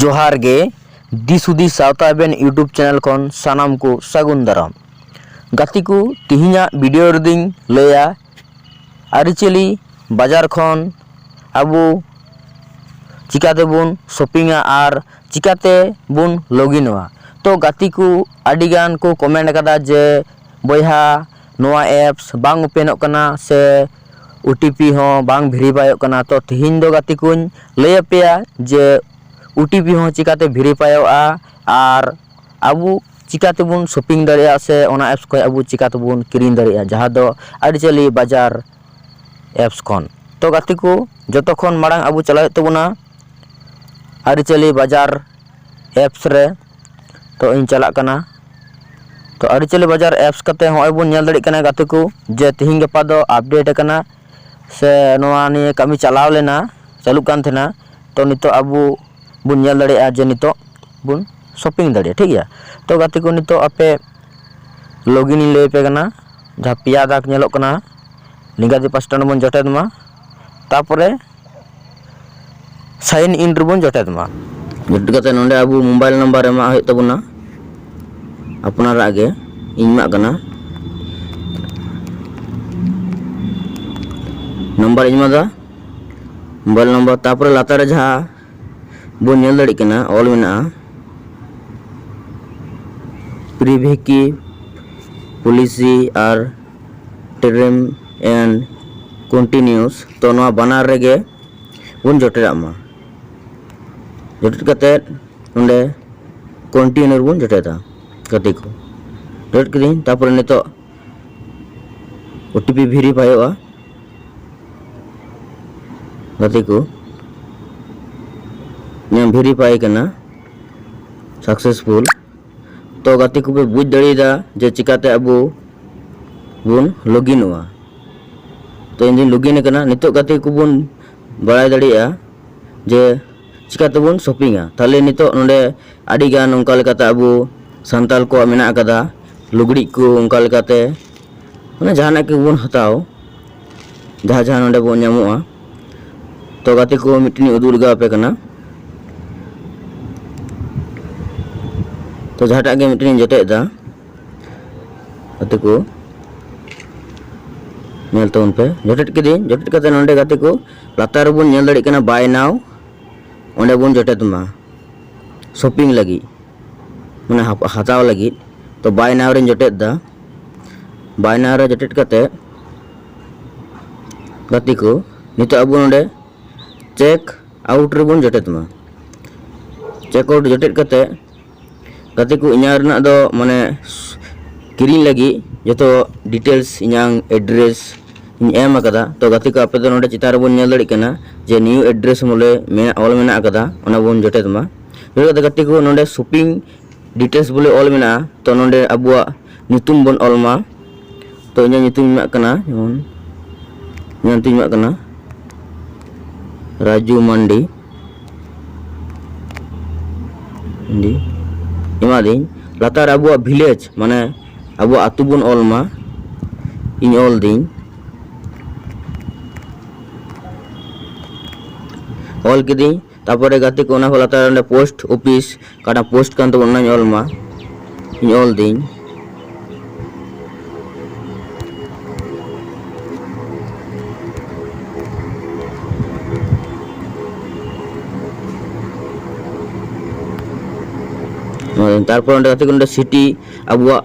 ᱡᱚᱦᱟᱨ ᱜᱮ ᱫᱤᱥ ᱦᱩᱫᱤᱥ ᱥᱟᱶᱛᱟ ᱮᱵᱮᱱ ᱤᱭᱩᱴᱩᱵᱽ ᱪᱮᱱᱮᱞ ᱠᱷᱚᱱ ᱥᱟᱱᱟᱢ ᱠᱚ ᱥᱟᱹᱜᱩᱱ ᱫᱟᱨᱟᱢ ᱜᱟᱛᱮ ᱠᱚ ᱛᱮᱦᱮᱧᱟᱜ ᱵᱷᱤᱰᱤᱭᱳ ᱨᱮᱫᱚᱧ ᱞᱟᱹᱭᱟ ᱟᱹᱨᱤᱪᱟᱹᱞᱤ ᱵᱟᱡᱟᱨ ᱠᱷᱚᱱ ᱟᱵᱚ ᱪᱤᱠᱟᱹ ᱛᱮᱵᱚᱱ ᱥᱚᱯᱤᱝᱟ ᱟᱨ ᱪᱤᱠᱟᱹ ᱛᱮᱵᱚᱱ ᱞᱚᱜᱤᱱᱚᱜᱼᱟ ᱛᱳ ᱜᱟᱛᱮ ᱠᱚ ᱟᱹᱰᱤᱜᱟᱱ ᱠᱚ ᱠᱚᱢᱮᱱᱴ ᱠᱟᱫᱟ ᱡᱮ ᱵᱚᱭᱦᱟ ᱱᱚᱣᱟ ᱮᱯᱥ ᱵᱟᱝ ᱳᱯᱮᱱᱚᱜ ᱠᱟᱱᱟ ᱥᱮ ᱳ ᱴᱤ ᱯᱤ ᱦᱚᱸ ᱵᱟᱝ ᱵᱷᱮᱨᱤᱯᱷᱟᱭᱚᱜ ᱠᱟᱱᱟ ᱛᱳ ᱛᱮᱦᱮᱧ ᱫᱚ ᱜᱟᱛᱮ ᱠᱚᱧ ᱞᱟᱹᱭ ᱟᱯᱮᱭᱟ ᱡᱮ ᱳ ᱴᱤ ᱯᱤ ᱦᱚᱸ ᱪᱤᱠᱟᱹᱛᱮ ᱵᱷᱮᱨᱤᱯᱷᱟᱭᱚᱜᱼᱟ ᱟᱨ ᱟᱵᱚ ᱪᱤᱠᱟᱹ ᱛᱮᱵᱚᱱ ᱥᱚᱯᱤᱝ ᱫᱟᱲᱮᱭᱟᱜᱼᱟ ᱥᱮ ᱚᱱᱟ ᱮᱯᱥ ᱠᱷᱚᱱ ᱟᱵᱚ ᱪᱤᱠᱟᱹ ᱛᱮᱵᱚᱱ ᱠᱤᱨᱤᱧ ᱫᱟᱲᱮᱭᱟᱜᱼᱟ ᱡᱟᱦᱟᱸ ᱫᱚ ᱟᱹᱨᱤᱪᱟᱹᱞᱤ ᱵᱟᱡᱟᱨ ᱮᱯᱥ ᱠᱷᱚᱱ ᱛᱳ ᱜᱟᱛᱮ ᱠᱚ ᱡᱚᱛᱚ ᱠᱷᱚᱱ ᱢᱟᱲᱟᱝ ᱟᱵᱚ ᱪᱟᱞᱟᱜ ᱦᱩᱭᱩᱜ ᱛᱟᱵᱚᱱᱟ ᱟᱹᱨᱤᱪᱟᱹᱞᱤ ᱵᱟᱡᱟᱨ ᱮᱯᱥ ᱨᱮ ᱛᱳ ᱤᱧ ᱪᱟᱞᱟᱜ ᱠᱟᱱᱟ ᱛᱳ ᱟᱹᱨᱤᱪᱟᱹᱞᱤ ᱵᱟᱡᱟᱨ ᱮᱯᱥ ᱠᱟᱛᱮᱫ ᱱᱚᱜᱼᱚᱭ ᱵᱚᱱ ᱧᱮᱞ ᱫᱟᱲᱮᱭᱟᱜ ᱠᱟᱱᱟ ᱜᱟᱛᱮ ᱠᱚ ᱡᱮ ᱛᱮᱦᱤᱧ ᱜᱟᱯᱟ ᱫᱚ ᱟᱯᱰᱮᱴ ᱠᱟᱱᱟ ᱥᱮ ᱱᱚᱣᱟ ᱱᱤᱭᱮ ᱠᱟᱹᱢᱤ ᱪᱟᱞᱟᱣ ᱞᱮᱱᱟ ᱪᱟᱹᱞᱩᱜ ᱠᱟᱱ ᱛᱟᱦᱮᱱᱟ ᱛᱳ ᱱᱤᱛᱚᱜ ᱟᱵᱚ ᱵᱚᱱ ᱧᱮᱞ ᱫᱟᱲᱮᱭᱟᱜᱼᱟ ᱡᱮ ᱱᱤᱛᱚᱜ ᱵᱚᱱ ᱥᱚᱯᱤᱝ ᱫᱟᱲᱮᱭᱟᱜᱼᱟ ᱴᱷᱤᱠ ᱜᱮᱭᱟ ᱛᱚ ᱜᱟᱛᱮ ᱠᱚ ᱱᱤᱛᱚᱜ ᱟᱯᱮ ᱞᱚᱜᱽ ᱤᱱ ᱤᱧ ᱞᱟᱹᱭ ᱟᱯᱮ ᱠᱟᱱᱟ ᱡᱟᱦᱟᱸ ᱯᱮᱭᱟ ᱫᱟᱜᱽ ᱧᱮᱞᱚᱜ ᱠᱟᱱᱟ ᱱᱤᱝᱠᱟ ᱜᱮ ᱯᱟᱥᱴᱟ ᱨᱮᱵᱚᱱ ᱡᱚᱴᱮᱫ ᱢᱟ ᱛᱟᱨᱯᱚᱨᱮ ᱥᱟᱭᱤᱱ ᱤᱱ ᱨᱮᱵᱚᱱ ᱡᱚᱴᱮᱫ ᱢᱟ ᱡᱚᱴᱮᱫ ᱠᱟᱛᱮᱫ ᱱᱚᱰᱮ ᱟᱵᱚ ᱢᱳᱵᱟᱭᱤᱞ ᱱᱟᱢᱵᱟᱨ ᱮᱢᱟᱜ ᱦᱩᱭᱩᱜ ᱛᱟᱵᱚᱱᱟ ᱟᱯᱱᱟᱨᱟᱜ ᱜᱮ ᱤᱧ ᱮᱢᱟᱜ ᱠᱟᱱᱟ ᱱᱟᱢᱵᱟᱨ ᱤᱧ ᱮᱢᱟᱫᱟ ᱢᱳᱵᱟᱭᱤᱞ ᱱᱟᱢᱵᱟᱨ ᱛᱟᱨᱯᱚᱨᱮ ᱞᱟᱛᱟᱨ ᱨᱮ ᱡᱟᱦᱟᱸ ᱵᱚᱱ ᱧᱮᱞ ᱫᱟᱲᱮᱜ ᱠᱟᱱᱟ ᱚᱞ ᱢᱮᱱᱟᱜᱼᱟ ᱯᱨᱤᱵᱷᱤᱠᱤ ᱯᱚᱞᱤᱥᱤ ᱟᱨ ᱴᱨᱮᱢ ᱮᱱᱰ ᱠᱚᱱᱴᱤᱱᱤᱭᱩᱥ ᱛᱚ ᱱᱚᱣᱟ ᱵᱟᱱᱟᱨ ᱨᱮᱜᱮ ᱵᱚᱱ ᱡᱚᱴᱮᱫᱟᱜ ᱢᱟ ᱡᱚᱴᱮᱫ ᱠᱟᱛᱮᱫ ᱚᱸᱰᱮ ᱠᱚᱱᱴᱤᱱᱤᱭᱩ ᱨᱮᱵᱚᱱ ᱡᱚᱴᱮᱫᱟ ᱜᱟᱛᱮ ᱠᱚ ᱡᱚᱴᱮᱫ ᱠᱤᱫᱟᱹᱧ ᱛᱟᱨᱯᱚᱨᱮ ᱱᱤᱛᱚᱜ ᱳᱴᱤᱯᱤ ᱵᱷᱮᱨᱤᱯᱷᱟᱭᱚᱜᱼᱟ ᱜᱟᱛᱮ ᱠᱚ ᱤᱧᱟᱹᱜ ᱵᱷᱮᱨᱤᱯᱷᱟᱭ ᱠᱟᱱᱟ ᱥᱟᱠᱥᱮᱥᱯᱷᱩᱞ ᱛᱚ ᱜᱟᱛᱮ ᱠᱚᱯᱮ ᱵᱩᱡᱽ ᱫᱟᱲᱮᱭᱟᱫᱟ ᱡᱮ ᱪᱤᱠᱟᱛᱮ ᱟᱵᱚ ᱵᱚᱱ ᱞᱚᱜᱤᱱᱚᱜᱼᱟ ᱛᱚ ᱤᱧᱫᱩᱧ ᱞᱚᱜᱤᱱ ᱟᱠᱟᱱᱟ ᱱᱤᱛᱚᱜ ᱜᱟᱛᱮ ᱠᱚᱵᱚᱱ ᱵᱟᱲᱟᱭ ᱫᱟᱲᱮᱭᱟᱜᱼᱟ ᱡᱮ ᱪᱤᱠᱟ ᱛᱮᱵᱚᱱ ᱥᱚᱯᱤᱝᱟ ᱛᱟᱦᱚᱞᱮ ᱱᱤᱛᱚᱜ ᱱᱚᱰᱮ ᱟᱹᱰᱤ ᱜᱟᱱ ᱚᱱᱠᱟ ᱞᱮᱠᱟᱛᱮ ᱟᱵᱚ ᱥᱟᱱᱛᱟᱲ ᱠᱚᱣᱟᱜ ᱢᱮᱱᱟᱜ ᱟᱠᱟᱫᱟ ᱞᱩᱜᱽᱲᱤᱡ ᱠᱚ ᱚᱱᱠᱟ ᱞᱮᱠᱟᱛᱮ ᱢᱟᱱᱮ ᱡᱟᱦᱟᱱᱟᱜ ᱜᱮᱵᱚᱱ ᱦᱟᱛᱟᱣ ᱡᱟᱦᱟᱸ ᱡᱟᱦᱟᱸ ᱱᱚᱰᱮ ᱵᱚᱱ ᱧᱟᱢᱚᱜᱼᱟ ᱛᱚ ᱜᱟᱛᱮ ᱠᱚ ᱢᱤᱫᱴᱮᱱ ᱩᱫᱩᱜ ᱞᱮᱜᱟᱣ ᱟᱯᱮ ᱠᱟᱱᱟ ᱛᱚ ᱡᱟᱦᱟᱸᱴᱟᱜ ᱜᱮ ᱢᱤᱫᱴᱮᱱ ᱤᱧ ᱡᱚᱴᱮᱫᱟ ᱜᱟᱛᱮ ᱠᱚ ᱧᱮᱞ ᱛᱟᱵᱚᱱ ᱯᱮ ᱡᱚᱴᱮᱫ ᱠᱤᱫᱟᱹᱧ ᱡᱚᱴᱮᱫ ᱠᱟᱛᱮ ᱱᱚᱰᱮ ᱜᱟᱛᱮ ᱠᱚ ᱞᱟᱛᱟᱨ ᱨᱮᱵᱚᱱ ᱧᱮᱞ ᱫᱟᱲᱮᱭᱟᱜ ᱠᱟᱱᱟ ᱵᱟᱭ ᱱᱟᱣ ᱚᱸᱰᱮ ᱵᱚᱱ ᱡᱚᱴᱮᱫ ᱢᱟ ᱥᱚᱯᱤᱝ ᱞᱟᱹᱜᱤᱫ ᱢᱟᱱᱮ ᱦᱟᱛᱟᱣ ᱞᱟᱹᱜᱤᱫ ᱛᱚ ᱵᱟᱭ ᱱᱟᱣ ᱨᱮᱧ ᱡᱚᱴᱮᱫ ᱫᱟ ᱵᱟᱭ ᱱᱟᱣ ᱨᱮ ᱡᱚᱴᱮᱫ ᱠᱟᱛᱮ ᱜᱟᱛᱮ ᱠᱚ ᱱᱤᱛᱚᱜ ᱟᱵᱚ ᱱᱚᱰᱮ ᱪᱮᱠ ᱟᱣᱩᱴ ᱨᱮᱵᱚᱱ ᱡᱚᱴᱮᱫ ᱢᱟ ᱪᱮᱠ ᱟᱣᱩᱴ ᱡᱚᱴᱮᱫ ᱠᱟᱛᱮ ᱜᱟᱛᱮ ᱠᱚ ᱤᱧᱟᱹᱜ ᱨᱮᱱᱟᱜ ᱫᱚ ᱢᱟᱱᱮ ᱠᱤᱨᱤᱧ ᱞᱟᱹᱜᱤᱫ ᱡᱚᱛᱚ ᱰᱤᱴᱮᱞᱥ ᱤᱧᱟᱹᱝ ᱮᱰᱨᱮᱥ ᱤᱧ ᱮᱢ ᱟᱠᱟᱫᱟ ᱛᱳ ᱜᱟᱛᱮ ᱠᱚ ᱟᱯᱮ ᱫᱚ ᱱᱚᱰᱮ ᱪᱮᱛᱟᱱ ᱨᱮᱵᱚᱱ ᱧᱮᱞ ᱫᱟᱲᱮᱭᱟᱜ ᱠᱟᱱᱟ ᱡᱮ ᱱᱤᱭᱩ ᱮᱰᱨᱮᱥ ᱵᱚᱞᱮ ᱢᱮᱱᱟᱜ ᱚᱞ ᱢᱮᱱᱟᱜ ᱟᱠᱟᱫᱟ ᱚᱱᱟ ᱵᱚᱱ ᱡᱚᱴᱮᱫ ᱢᱟ ᱱᱚᱰᱮ ᱫᱚ ᱜᱟᱛᱮ ᱠᱚ ᱱᱚᱰᱮ ᱥᱚᱯᱤᱝ ᱰᱤᱴᱮᱞᱥ ᱵᱚᱞᱮ ᱚᱞ ᱢᱮᱱᱟᱜᱼᱟ ᱛᱳ ᱱᱚᱰᱮ ᱟᱵᱚᱣᱟᱜ ᱧᱩᱛᱩᱢ ᱵᱚᱱ ᱚᱞ ᱢᱟ ᱛᱚ ᱤᱧᱟᱹᱜ ᱧᱩᱛᱩᱢ ᱮᱢᱟᱜ ᱠᱟᱱᱟ ᱡᱮᱢᱚᱱ ᱤᱧᱟᱹᱜ ᱧᱩᱛᱩᱢ ᱮᱢᱟᱜ ᱠᱟᱱᱟ ᱨᱟᱡᱩ ᱢᱟᱱᱰᱤ ᱢᱟᱱᱰᱤ ᱮᱢᱟᱫᱤᱧ ᱞᱟᱛᱟᱨ ᱟᱵᱚᱣᱟᱜ ᱵᱷᱤᱞᱮᱡᱽ ᱢᱟᱱᱮ ᱟᱵᱚᱣᱟᱜ ᱟᱛᱳ ᱵᱚᱱ ᱚᱞ ᱢᱟ ᱤᱧ ᱚᱞ ᱫᱤᱧ ᱚᱞ ᱠᱤᱫᱟᱹᱧ ᱛᱟᱯᱚᱨᱮ ᱜᱟᱛᱮ ᱠᱚ ᱚᱱᱟ ᱠᱚ ᱞᱟᱛᱟᱨ ᱨᱮ ᱚᱸᱰᱮ ᱯᱳᱥᱴ ᱚᱯᱷᱤᱥ ᱚᱠᱟᱴᱟᱜ ᱯᱳᱥᱴ ᱠᱟᱱ ᱛᱟᱵᱚᱱ ᱚᱱᱟᱧ ᱚᱞ ᱢᱟ ᱤᱧ ᱚᱞ ᱫᱤᱧ ᱛᱟᱨᱯᱚᱨ ᱚᱸᱰᱮ ᱜᱟᱛᱮ ᱠᱚ ᱚᱸᱰᱮ ᱥᱤᱴᱤ ᱟᱵᱚᱣᱟᱜ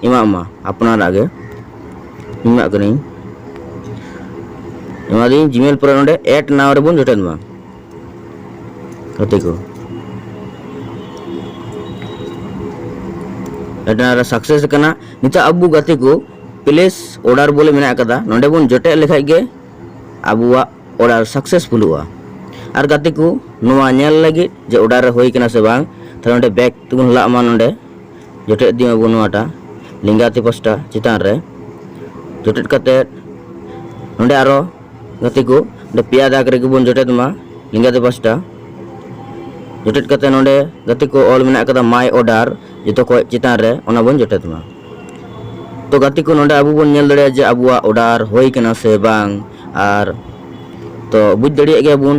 ᱮᱢᱟᱜ ᱢᱟ ᱟᱯᱱᱟᱨᱟᱜ ᱜᱮ ᱮᱢᱟᱜ ᱠᱟᱹᱱᱟᱹᱧ ᱮᱢᱟ ᱫᱤᱧ ᱡᱤᱢᱮᱞ ᱯᱚᱨᱮ ᱱᱚᱰᱮ ᱮᱰ ᱱᱟᱣ ᱨᱮᱵᱚᱱ ᱡᱚᱴᱮᱫ ᱢᱟ ᱜᱟᱛᱮ ᱠᱚ ᱮᱰ ᱱᱟᱣ ᱨᱮ ᱥᱟᱠᱥᱮᱥ ᱠᱟᱱᱟ ᱱᱤᱛᱚᱜ ᱟᱵᱚ ᱜᱟᱛᱮ ᱠᱚ ᱯᱞᱮᱥ ᱚᱰᱟᱨ ᱵᱚᱞᱮ ᱢᱮᱱᱟᱜ ᱟᱠᱟᱫᱟ ᱱᱚᱰᱮ ᱵᱚᱱ ᱡᱚᱴᱮᱫ ᱞᱮᱠᱷᱟᱡ ᱜᱮ ᱟᱵᱚᱣᱟᱜ ᱚᱰᱟᱨ ᱥᱟᱠᱥᱮᱥᱯᱷᱩᱞᱚᱜᱼᱟ ᱟᱨ ᱜᱟᱛᱮ ᱠᱚ ᱱᱚᱣᱟ ᱧᱮᱞ ᱞᱟᱹᱜᱤᱫ ᱡᱮ ᱚᱰᱟᱨ ᱦᱩᱭ ᱠᱟᱱᱟ ᱥᱮ ᱵᱟᱝ ᱛᱟᱦᱞᱮ ᱱᱚᱰᱮ ᱵᱮᱠ ᱛᱮᱵᱚᱱ ᱞᱟᱜ ᱢᱟ ᱱᱚᱰᱮ ᱡᱚᱴᱮᱫ ᱤᱫᱤ ᱢᱟᱵᱚᱱ ᱱᱚᱣᱟᱴᱟᱜ ᱞᱮᱸᱜᱟ ᱛᱤ ᱯᱟᱥᱴᱟ ᱪᱮᱛᱟᱱ ᱨᱮ ᱡᱚᱴᱮᱫ ᱠᱟᱛᱮ ᱱᱚᱰᱮ ᱟᱨᱚ ᱜᱟᱛᱮ ᱠᱚ ᱱᱚᱰᱮ ᱯᱮᱭᱟ ᱫᱟᱜᱽ ᱨᱮᱜᱮ ᱵᱚᱱ ᱡᱚᱴᱮᱫ ᱢᱟ ᱞᱮᱸᱜᱟ ᱛᱤ ᱯᱟᱥᱴᱟ ᱡᱚᱴᱮᱫ ᱠᱟᱛᱮ ᱱᱚᱰᱮ ᱜᱟᱛᱮ ᱠᱚ ᱚᱞ ᱢᱮᱱᱟᱜ ᱟᱠᱟᱫᱟ ᱢᱟᱭ ᱚᱰᱟᱨ ᱡᱚᱛᱚ ᱠᱷᱚᱡ ᱪᱮᱛᱟᱱ ᱨᱮ ᱚᱱᱟ ᱵᱚᱱ ᱡᱚᱴᱮᱫ ᱢᱟ ᱛᱚ ᱜᱟᱛᱮ ᱠᱚ ᱱᱚᱰᱮ ᱟᱵᱚ ᱵᱚᱱ ᱧᱮᱞ ᱫᱟᱲᱮᱭᱟᱜᱼᱟ ᱡᱮ ᱟᱵᱚᱣᱟᱜ ᱚᱰᱟᱨ ᱦᱩᱭ ᱠᱟᱱᱟ ᱥᱮ ᱵᱟᱝ ᱟᱨ ᱛᱚ ᱵᱩᱡᱽ ᱫᱟᱲᱮᱭᱟᱜ ᱜᱮᱭᱟ ᱵᱚᱱ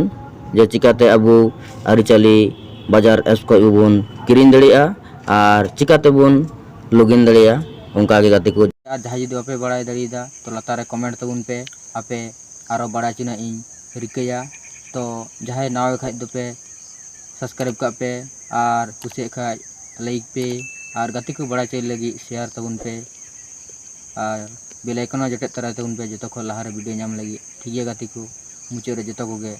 ᱡᱮ ᱪᱤᱠᱟᱛᱮ ᱟᱵᱚ ᱟᱹᱨᱤᱪᱟᱹᱞᱤ ᱵᱟᱡᱟᱨ ᱮᱯᱥ ᱠᱷᱚᱡ ᱵᱚᱱ ᱠᱤᱨᱤᱧ ᱫᱟᱲᱮᱭᱟᱜᱼᱟ ᱟᱨ ᱪᱤᱠᱟ ᱛᱮᱵᱚᱱ ᱞᱚᱜᱤᱱ ᱫᱟᱲᱮᱭᱟ ᱚᱱᱠᱟ ᱜᱮ ᱜᱟᱛᱮ ᱠᱚ᱾ ᱟᱨ ᱡᱟᱦᱟᱸᱭ ᱡᱩᱫᱤ ᱵᱟᱯᱮ ᱵᱟᱲᱟᱭ ᱫᱟᱲᱮᱭᱟᱫᱟ ᱛᱚ ᱞᱟᱛᱟᱨ ᱨᱮ ᱠᱚᱢᱮᱱᱴ ᱛᱟᱵᱚᱱ ᱯᱮ ᱟᱯᱮ ᱟᱨᱚ ᱵᱟᱲᱟᱭ ᱪᱚᱱᱟᱜ ᱤᱧ ᱨᱤᱠᱟᱹᱭᱟ ᱛᱚ ᱡᱟᱦᱟᱸᱭ ᱱᱟᱣᱟ ᱜᱮ ᱠᱷᱟᱡ ᱫᱚᱯᱮ ᱥᱟᱵᱥᱠᱨᱟᱭᱤᱵ ᱠᱟᱜ ᱯᱮ ᱟᱨ ᱠᱩᱥᱤᱭᱟᱜ ᱠᱷᱟᱡ ᱞᱟᱭᱤᱠ ᱯᱮ ᱟᱨ ᱜᱟᱛᱮ ᱠᱚ ᱵᱟᱲᱟᱭ ᱪᱚᱭ ᱞᱟᱹᱜᱤᱫ ᱥᱮᱭᱟᱨ ᱛᱟᱵᱚᱱ ᱯᱮ ᱟᱨ ᱵᱮᱞ ᱟᱭᱠᱚᱱ ᱦᱚᱸ ᱡᱚᱴᱮᱫ ᱛᱚᱨᱟᱭ ᱛᱟᱵᱚᱱ ᱯᱮ ᱡᱚᱛᱚ ᱠᱷᱚᱱ ᱞᱟᱦᱟ ᱨᱮ ᱵᱷᱤᱰᱤᱭᱳ ᱧᱟᱢ ᱞᱟᱹᱜᱤᱫ ᱴᱷᱤᱠ ᱜᱮᱭᱟ ᱜᱟᱛᱮ ᱠᱚ ᱢᱩᱪᱟᱹᱫ ᱨᱮ ᱡᱚᱛᱚ ᱠᱚᱜᱮ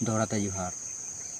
ᱫᱚᱦᱲᱟ ᱛᱮ ᱡᱚᱦᱟᱨ